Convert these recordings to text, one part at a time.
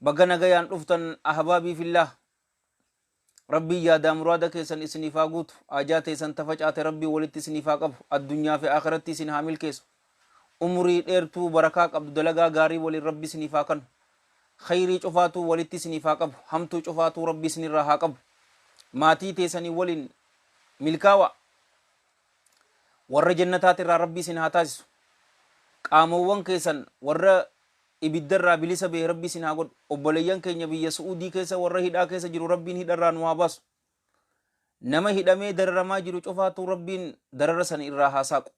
Baga nagayaan dhuftan Ahbaabii fillaah Rabbiin yaadaa muraada keessan isiniif haa guutu haajaa teessan ta facaate Rabbiin walitti isiniif haa qabu addunyaa fi aakhiratti isin haa milkeessu umrii dheertuu barakaa qabdu dalagaa gaarii waliin Rabbi isiniif haa kannu kheyrii cufaatuu walitti isiniif haa qabu hamtuu cufaatuu Rabbi isinirraa haa qabu maatii teessanii waliin milkaawaa warra jannataatirraa Rabbi isin haa taasisu qaamoowwan keessan warra ibidda irraa bilisa bahe rabbi isin haa godhu obboleyyan keenya biyya su'udii keessa warra hidhaa keessa jiru rabbiin hidha irraa nu haa baasu nama hidhamee dararamaa jiru cufaatuu rabbiin darara san irraa haa saaqu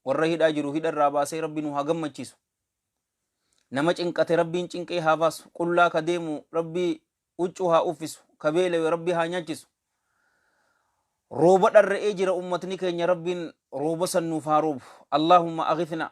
warra hidhaa jiru hidha irraa baasee rabbi nu haa gammachiisu nama cinqate rabbiin cinqee haa baasu qullaa ka deemu rabbi uccuu haa uffisu ka beelewe rabbi haa nyaachisu rooba dharre'ee jira ummatni keenya rabbiin rooba san nuuf haa roobu allaahumma aghifna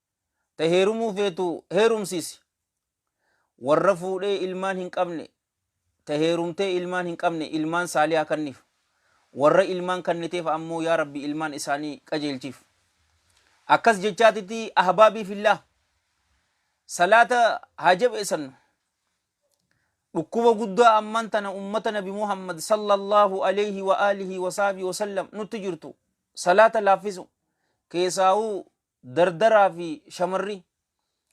Ta heerumuu feetu heerumsiisi. Warra fuudhee ilmaan hin qabne, ta heerumtee ilmaan hin qabne ilmaan saalihaa kanniif. Warra ilmaan kanniteef ammoo yaa Rabbi ilmaan isaanii qajeelchiif. Akkas jechaatiti ahbaabii fillaah salaata haa jabeessannu. Dhukkuba guddaa ammaan tana ummata Nabi Muhammad sallallahu alayhi wa alihi wa sahbihi wa sallam nutti jirtu salaata laaffisu keessaa'uu Dardaraa fi shamarri.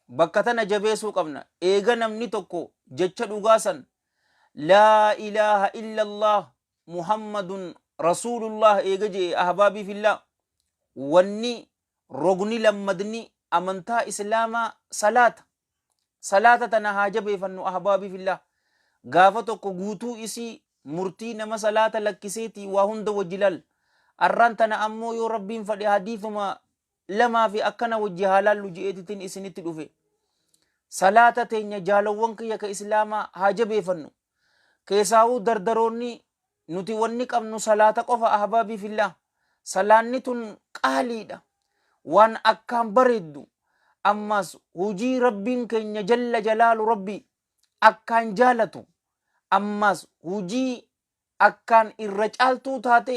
Bakka tana jabeesuu qabna. Eega namni tokko jecha dhugaa san Laa ilaaha illallaah Muhammadun Rasuulullaah eega je'e Ahbaabii fillaah wanni rogni lammadni amantaa Islaamaa salaata. Salaata tana haa jabeefannu ahbaabii fillaah. Gaafa tokko guutuu isii murtii nama salaata lakkiseetii waa hunda wajji laalla. Arraan tana ammoo yoo Rabbiin fadhe hadiithuma lamaa fi akkana wajji haa laallu je'eetitin isinitti dhufe. Salaata teenya jaalowwan kiyya ka Islaamaa haa jabeefannu. keesaahuu dardaroonni nuti wanni qabnu salaata qofa ahbaabii fillaah salaanni tun qaaliidha waan akkaan bareeddu ammaas hujii rabbiin keenya jalla jalaalu rabbii akkaan jaalatu ammaas hujii akkaan irra caaltuu taate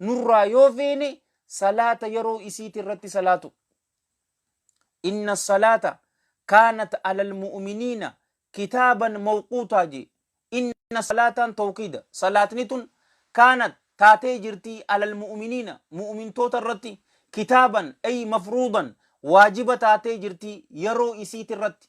nurraa yoo feene salaata yeroo isiiti irratti salaatu inna salaata kaanat alal mu'miniina kitaaban mawquutaa jee inna salaataan tawqiida salaatni tun kaanat taatee jirtii alal mu'miniina mu'mintoota irratti kitaaban ay mafruudan waajiba taatee jirtii yeroo isiiti irratti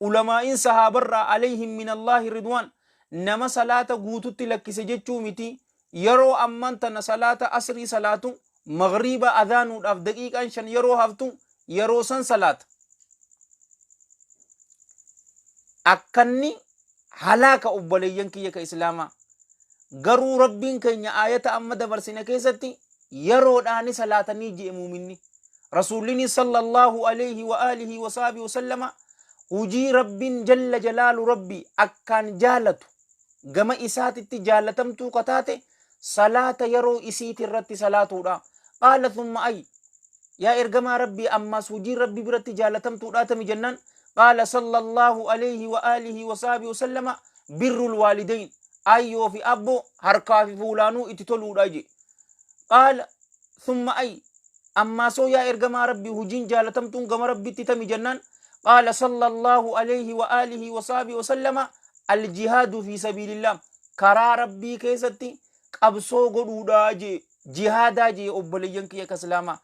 Ulamaa'iin sahaabarraa aleyhim minallaahi ridwaan nama salaata guututti lakkise jechuu miti, yeroo ammaan tana salaata asrii salaatu, maghriiba adhaanuudhaaf daqiiqaan shan yeroo haftu yeroo san salaata. Akkanni halaaka obboleeyyan kiyya ka islaamaa garuu rabbiin keenya aayata amma dabarsine keessatti yeroodhaani salaatanii je'e muuminni rasuullini sallallahu alayhi wa alihi wa sahbihi wasallama hujii rabbiin jalla jalaalu rabbi akkaan jaalatu gama isaatitti jaalatamtuu ka taate salaata yeroo isiiti irratti salaatuudha. Qaala thumma ay yaa ergamaa rabbii ammaas hojiin rabbii biratti jaalatamtuudhaa tami jennaan qaala sallallahu alayhi wa alihi wa sahbihi wa sallama birrul waalidayn ayyoo fi abboo harkaa fi fuulaanuu itti toluudha jee qaala Thumma ay, Ammaasoo yaa ergamaa Rabbii hujiin jaalatamtuun gama Rabbitti tami jennaan qaala sallallahu alayhi wa aalihi wa sahbihi wa sallama aljihaadu fi sabiilillah karaa Rabbii keessatti qabsoo godhuudha jee jihaadaa jee obboleeyyan kiyya ka islaamaa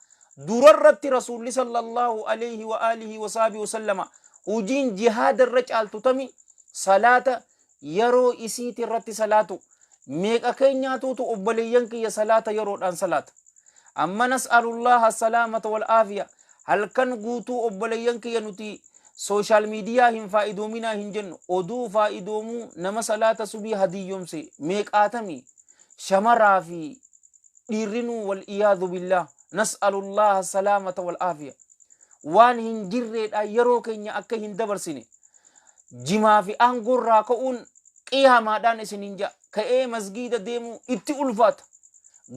durarratti rasuulli sallallahu alayhi wa aalihi wa sahbihi wa sallama hujiin jihaada irra caaltu tami salaata yaroo isiiti irratti salaatu meeqa keenyaatuutu obboleeyyan kiyya salaata yaroodhaan salaata amma nas'alullaaha salaamata wal aafiya halkan guutuu obboleeyyan kiyya nuti sooshaal miidiyaa hin faayidoominaa hin jennu oduu faayidoomuu nama salaata subii hadiyyomse meeqaatami shamaraa fi dhiirrinuu wal iyaadu billaa nas'alullaaha salaamata wal aafiya waan hin jirreedha yeroo keenya akka hin dabarsine jimaa fi aangoo irraa ka'uun qiyaamaadhaan isiniin ja'a ka'ee masgiida deemuu itti ulfaata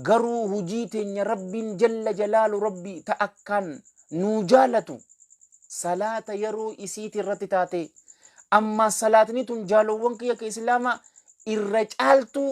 garuu hujii teenya rabbiin jalla jalaalu rabbii ta akkaan nuu jaalatu salaata yeroo isiiti irratti taatee amma salaatni tun jaalowwan kiyya ka islaamaa irra caaltuu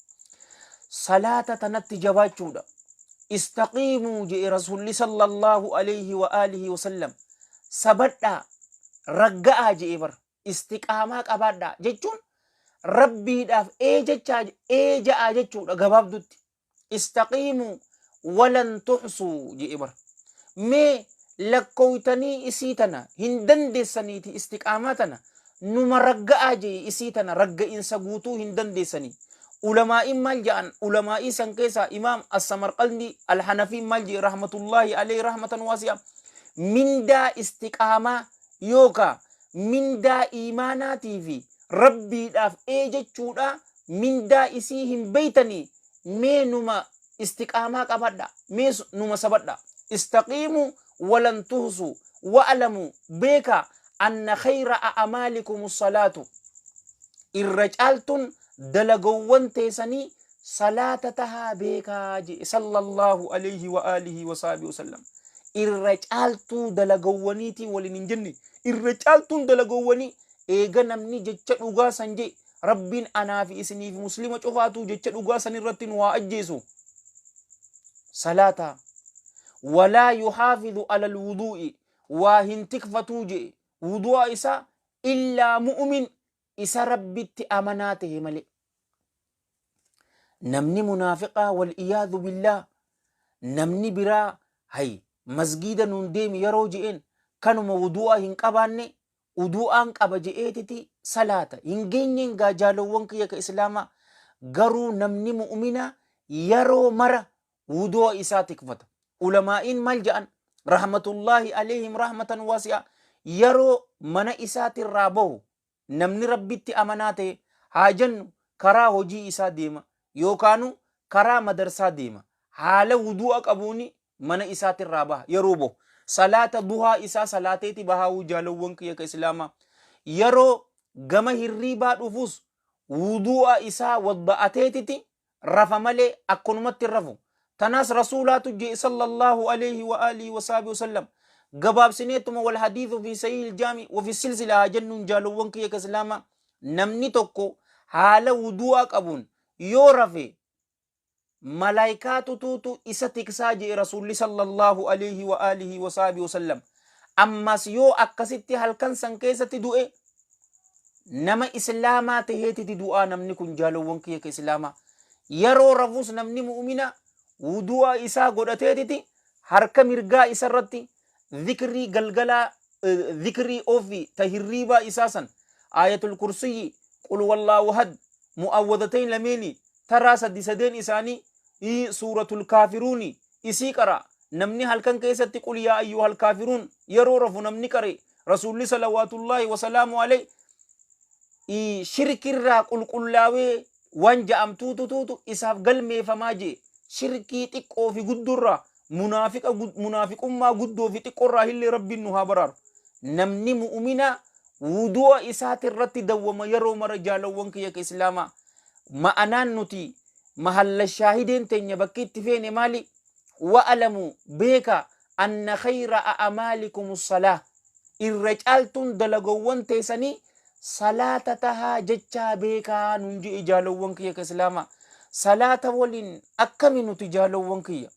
salaata tanatti jabaachuudha istaqiimuu je'e rasuulli sallallahu alayhi wa alihi wasallam sabadhaa ragga'aa je'e bar istiqaamaa qabaadhaa jechuun rabbiidhaaf ee jechaa ee ja'aa jechuudha gabaabdutti istaqiimuu walan tuxsuu je'e bar mee lakkooytanii isii tana hin dandeessaniiti istiqaamaa tana numa ragga'aa je'e isii tana ragga'insa guutuu hin dandeessanii ulamaa'iin maal ja'an ulamaa'ii san keessaa imaam assamarqalndii alhanafiin maal je'e rahmatullaahi alee rahmatan waasi'a mindaa istiqaamaa yookaa mindaa iimaanaatii fi rabbiidhaaf ee jechuudha mindaa isii hin beeytanii mee numa istiqaamaa qabadha mee numa sabadha istaqiimu walan tuhsu wa'lamu beeka anna khayra a'amaalikum salaatu irra caaltun dalagowwan teesanii salaata tahaa beekaa jee sallallahu alayhi wa alihi wa sahbihi wasallam irra caaltuu dalagowwaniitii waliin hin jenne irra caaltuun dalagowwanii eega namni jecha dhugaa san jee Rabbiin anaa fi isinii fi muslima cufaatuu jecha dhugaa san irratti nu haa ajjeesu. Salaata walaa yuhaafidu alal wuduu'i waa hin tikfatuu je'e wudu'a isaa illaa mu'umin isa rabbitti amanaa ta'e malee. Namni munaafiqaa wal iyaadu billaa namni biraa hay masgiida nuun deemi yeroo je'een kanuma wudu'a hin qabaanne Uduu'aan qaba je'eetiti salaata. Hin geenyeen gaa jaalowwan kiyya ka Islaamaa. Garuu namni mu'uminaa yaroo mara wuduu'a isaa tikfata. Ulamaa'iin maal ja'an? Rahmatullaahi aleeyhim rahmatan waasi'aa. Yaroo mana isaatirraa bahu namni Rabbitti amanaa tahe haa jennu karaa hojii isaa deema yookaanuu karaa madarsaa deema. Haala wuduu'a qabuuni mana isaati irraa baha yeroo bahu salaata duhaa isaa salaateeti bahaa wujaalowwan kiyya ka islaamaa yeroo gama hirriibaa dhufus wudu'a isaa wadda'ateetiti rafa malee akkanumatti hin rafu tanaas rasuulaatu jee sallallahu alayhi wa alihi wa sahbihi wasallam gabaabsineetuma wal hadiithu fi sahih iljaami wafi silsila haa jennuun jaalowwan kiyya ka islaamaa namni tokko haala wudu'a qabuun yoo rafe malaykaa tutuutu isa tiksaa je'e rasuulli sallallahu alayhi wa alihi wa sahbihi wasallam ammas yoo akkasitti halkan san keessatti du'e nama islaamaa taheetiti du'aa namni kun jaalowwan kiyya ka islaamaa yeroo rafus namni mu'mina wudu'a isaa godhateetiti harka mirgaa isarratti zikrii galgalaa eh, zikrii ofii ta hirriibaa isaa san aayatul kursiyyi qul wallaahu had mu'awwadatayn lameeni taraa sadi sadeen isaanii ii suuratul kaafiruuni isii qara namni halkan keessatti qul yaa ayyuhal kaafiruun yeroo rafu namni qare rasuulli salawaatullaahi wasalaamu alayhi ii shirkirraa qulqullaawee wan ja'amtuutu tuutu isaaf galmeefamaa je'e. Shirkii xiqqoo fi guddorraa, munaafiqa gud, munaafiqummaa guddoo fi xiqqorraa hillee Rabbiin nu haa baraaru. Namni mu'uminaa wudu'a isaatirratti dawwama yeroo mara jaalawwan kiyya ka Islaamaa. Ma'anaan nuti mahalla shaahideen teenya bakki itti feene maali? Wa'alamuu, beekaa, anna khayra a'amaalikum salaah irra caaltuun dalagawwan teesanii salaata tahaa jechaa beekaa nun je'e jaalowwan kiyya ka islaama salaata waliin akkami nuti jaalowwan kiyya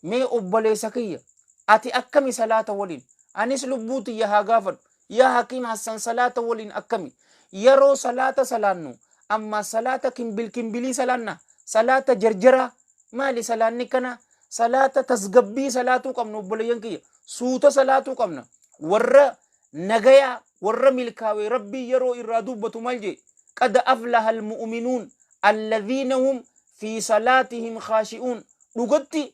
mee obbaleessa kiyya ati akkami salaata waliin anis lubbuu tiyya haa gaafadhu Yaa Hakim Hassan salaata waliin akkami? Yaroo salaata salaannu ammaa salaata kimbil kimbilii salaanna? Salaata jarjaraa? Maali salaanni kana? Salaata tasgabbii salaatuu qabna obboleeyyan kiyya. Suuta salaatuu qabna. Warra nagayaa warra milkaawee rabbii yeroo irraa dubbatu maal jee? Qad aflaha almu'minuun alladhiina hum fi salaatihim khaashi'uun. Dhugatti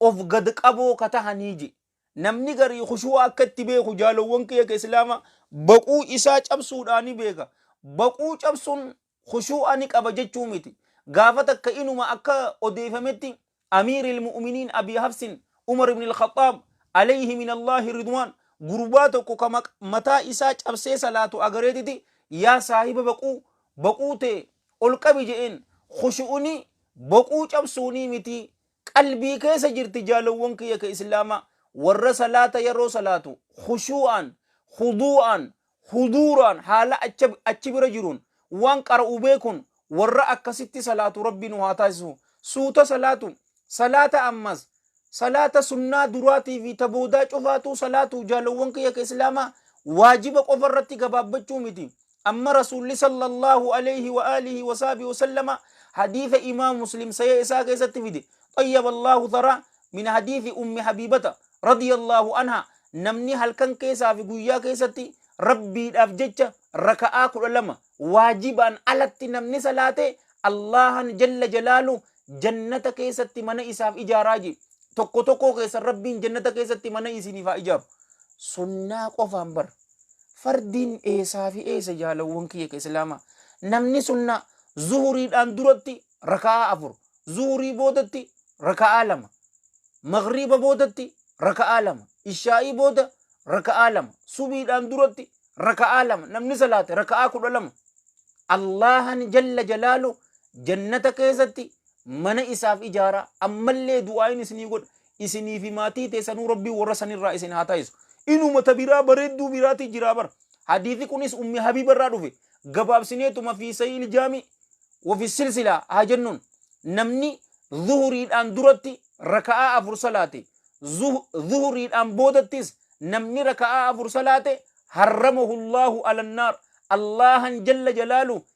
of gad qaboo ka tahanii ji. Namni garii khushuu'a akka itti beeku jaalowwan kiyya ka Islaama baquu isaa cabsuudhaa ni beeka. Baquu cabsuun khushuu'a ni qaba jechuu miti. Gaafa takka inuma akka odeeyfametti Amiiril Mu'uminiin Abii Hafsin Umar ibn Al-Khaxxaab, Aleyhi min Allaahi Ridwaan, gurbaa tokko ka mataa isaa cabsee salaatu agareetiti, Yaa saahiba baquu, baquu tee ol qabi je'een. Khushu'uni baquu cabsuunii miti Qalbii keessa jirti jaalowwan kiyya ka islaamaa warra salaata yaroo salaatu khushuu'aan, khuduu'aan, huduuraan haala acha achi bira jiruun waan qara'u beekun warra akkasitti salaatu rabbi nu haa taasisu suuta salaatu salaata ammas salaata sunnaa duraatii fi ta boodaa cufaatuu salaatu jaalowwan kiyya ka islaamaa waajiba qofa irratti gabaabbachuu miti Amma Rasuulli sallallahu alayhi wa aalihi wa sahbihi wa sallama hadiisa Imaam Muslim Sahih isaa keessatti fide xayyaba Allaahu tharaa min hadiisi Ummi Habiibata radiyallaahu anhaa namni halkan keessaa fi guyyaa keessatti Rabbiidhaaf jecha raka'aa kudha lama waajibaan alatti namni salaate Allaahan jalla jalaalu jannata keessatti mana isaaf ijaaraa jee tokko tokkoo keessan Rabbiin jannata keessatti mana isiniif haa ijaaru sunnaa qofaan bara Fardiin eesaa fi eesa jaalawwan kiyya ka islaama namni sunnaa zuhuriidhaan duratti raka'aa afur zuhurii boodatti raka'aa lama magriiba boodatti raka'aa lama ishaa'ii booda raka'aa lama subiidhaan duratti raka'aa lama namni salaate raka'aa kudha lama Allahan jalla jalaalu jannata keessatti mana isaaf ijaara ammallee du'aayin isinii godha Isinii fi maatii teessanuu Rabbiin warra san irraa isin haa taasisu. Inuma ta biraa bareedduu biraatii jiraa bar. Hadiisi kunis Ummi Habiiba irraa dhufe. Gabaabsineetuma fi Sahiihil Jaami wa fi Silsilaa haa jennuun. Namni Zuhuriidhaan duratti raka'aa afur salaate, Zuhuriidhaan boodattis namni raka'aa afur salaate, Harramahu Allaahu alan naar, Allaahan jalla jalaaluhu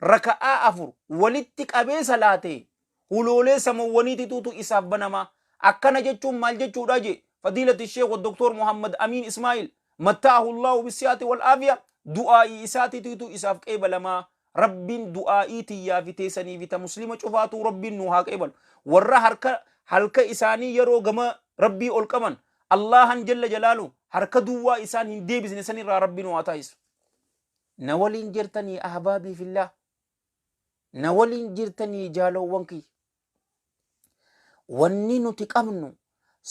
raka'aa afur walitti qabee salaate huloolee samawwaniitituutu isaaf banama akkana jechuun maal jechuudha jee fadiilati sheekh doktor muhammad amiin ismaa'il mattaahu allahu bisiyaati wal aafiya du'aa'ii isaatiitiitu isaaf qeebalama rabbiin du'aa'ii tiyyaa fi teesanii fi ta muslima cufaatuu rabbiin nuu haa qeebalu warra harka halka isaanii yeroo gama rabbii ol qaban allahan jalla jalaalu harka duwwaa isaan hin deebisne sanirraa rabbiin waa taasisu Na waliin jirtanii ahbaabii fillah na waliin jirtanii jaaloowwan kiyya wanni nuti qabnu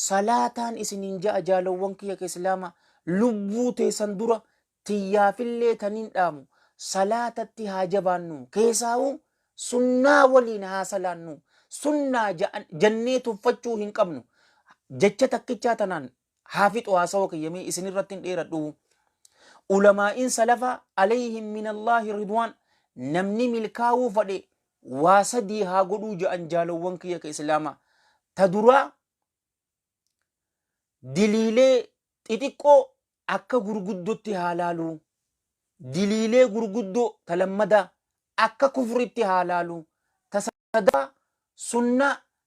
salaataan isiniin ja'a jaaloowwan kiyya ka islaama lubbuu teessan dura tiyyaafillee taniin dhaamu salaatatti haa jabaannu keesaa'u sunnaa waliin haa salaannu sunnaa ja'an- jannee tuffachuu hin qabnu jecha takkichaa tanaan haa fixu haasawa kiyya mee isin irratti hin dheeradhu ulamaa'iin salafa alayhim min allaahi ridwaan namni milkaawuu fadhe waa sadii haa godhuu ja'an jaalowwan kiyya ka islaama ta duraa diliilee xixiqqoo akka gurguddotti haa laaluu diliilee gurguddoo ta lammadaa akka kufritti haa laaluu ta sadaffaa sunnaa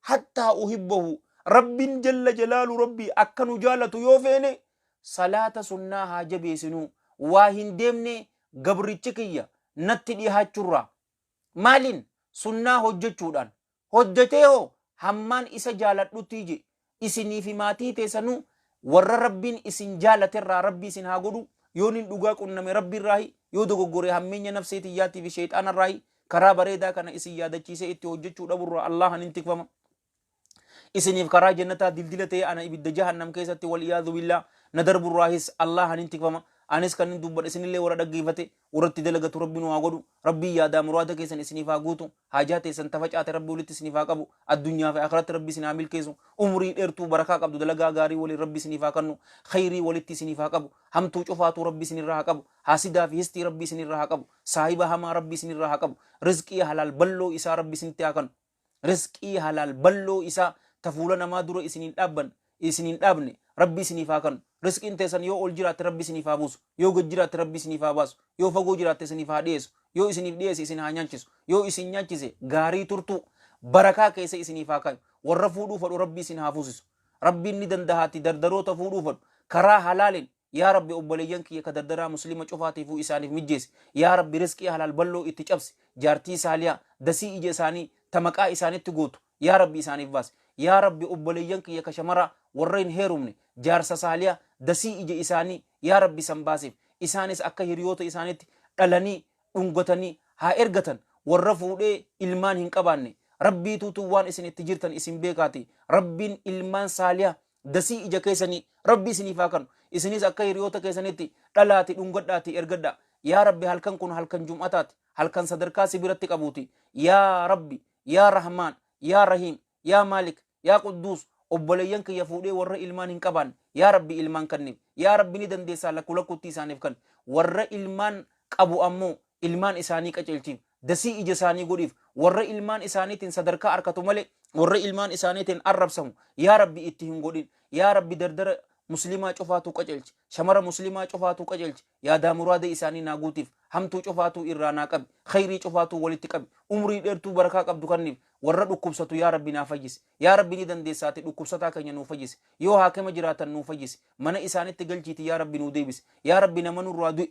hattaa uhibbahu rabbin jalla jalaalu rabbii akka nu jaalatu yoo feene salaata sunnaa haa jabeesinuu waa hin deemne gabrichi kiyya natti dhihaachurraa maalin sunnaa hojjechuudhaan hojjetee hoo hammaan isa jaaladhuttii je isinii fi maatii teesanuu warra rabbiin isin jaalaterraa rabbii isin haa godhu yoo nin dhugaa qunname rabbiirraahi yoo dogoggore hammeenya nafsee tiyyaatiifi sheexaanarraahi Karaa bareedaa kana isin yaadachiisee itti hojjechuu dhaburraa Allahan hin tikfama. Isiniif karaa jannataa dildila ta'e ana ibidda jahannam keessatti wal iyaadhu billaa na darburraahis Allahan hin tikfama. Anis kan hin dubbadhe isinillee warra dhaggeeffate warra itti dalagatu rabbi nu haa godhu. Rabbii yaadaa muraada keessan isiniif haa guutu. Haajaa teessan tafacaate rabbi walitti isiniif haa qabu. Addunyaa fi akhiratti rabbi isin haa milkeessu. Umrii dheertuu barakaa qabdu dalagaa gaarii waliin rabbi isiniif haa kannu. Khayrii walitti isiniif haa qabu. Hamtuu cufaatuu rabbi isinirraa haa qabu. Haasidaa fi histii rabbi isinirraa haa qabu. Saahiba hamaa rabbi isinirraa haa qabu rizqii halaal balloo isaa rabbi isinitti haa kanu rizqii halaal balloo isaa ta fuula namaa dura isin hin dhaabban isin hin dhaabne rabbi isiniif haa kanu rizqiin teessan yoo ol jiraatte rabbi isiniif haa buusu yoo gad jiraatte rabbi isiniif haa baasu yoo fagoo jiraatte isiniif haa dhiyeessu yoo isiniif dhiyeesse isin haa nyaachisu yoo isin nyaachise gaarii turtuu barakaa keessa isiniif haa kaayu warra fuudhuu fadhu rabbi isin haa fuusisu rabbiin ni dandahaatti dardaroota fuudhuu fadhu karaa halaalin Yaa Rabbi obboleeyyan kiyya ka dardaraa Muslima cufaatiifuu isaaniif mijjeessi. Yaa Rabbi rizqii halaal bal'oo itti cabsi. Jaartii saalihaa, dasii ija isaanii ta maqaa isaanitti gootu Yaa Rabbi isaaniif baasi. Yaa Rabbi obboleeyyan kiyya ka shamaraa warra hin heerumne jaarsa saaliha dasii ija isaanii Yaa Rabbi san baasiif. Isaanis akka hiriyoota isaanitti dhalanii, dhungatanii, haa ergatan. Warra fuudhee ilmaan hin qabaanne. Rabbiituutu waan isin itti jirtan isin beekaatii. Rabbiin ilmaan saaliha Dasii ija keessanii rabbi isiniif haa kanu isiniis akka hiriyoota keessanitti dhalaati dhungadhaati ergadhaa yaa rabbi halkan kun halkan jum'ataati halkan sadarkaa si biratti qabuuti yaa rabbi yaa rahmaan yaa rahiim yaa maalik yaa qudduus obboleeyyan kiyya fuudhee warra ilmaan hin qabaanne yaa rabbi ilmaan kanniif yaa rabbi ni dandeessaa lakku lakkutti isaaniif kan warra ilmaan qabu ammoo ilmaan isaanii qaceelchiif, dasii ija isaanii godhiif, warra ilmaan isaaniitiin sadarkaa arkatu malee warra ilmaan isaaniitiin arrabsamu yaa Rabbi itti hin godhin, yaa Rabbi dardara muslimaa cufaatuu qaceelchi, shamara muslimaa cufaatuu qaceelchi, yaadaa muraada isaanii naa guutiif, hamtuu cufaatuu irraa naa qabi, kheyrii cufaatuu walitti qabi, umrii dheertuu barakaa qabdu kanniif, warra dhukkubsatu yaa Rabbi naa fayyisi, yaa Rabbi ni dandeessa ati dhukkubsataa keenya nuu fayyisi, yoo haakima jiraatan nuu fayyisi, mana isaanitti galchiiti yaa Rabbi nuu deebisi, yaa Rabbi nama nurraa du'e,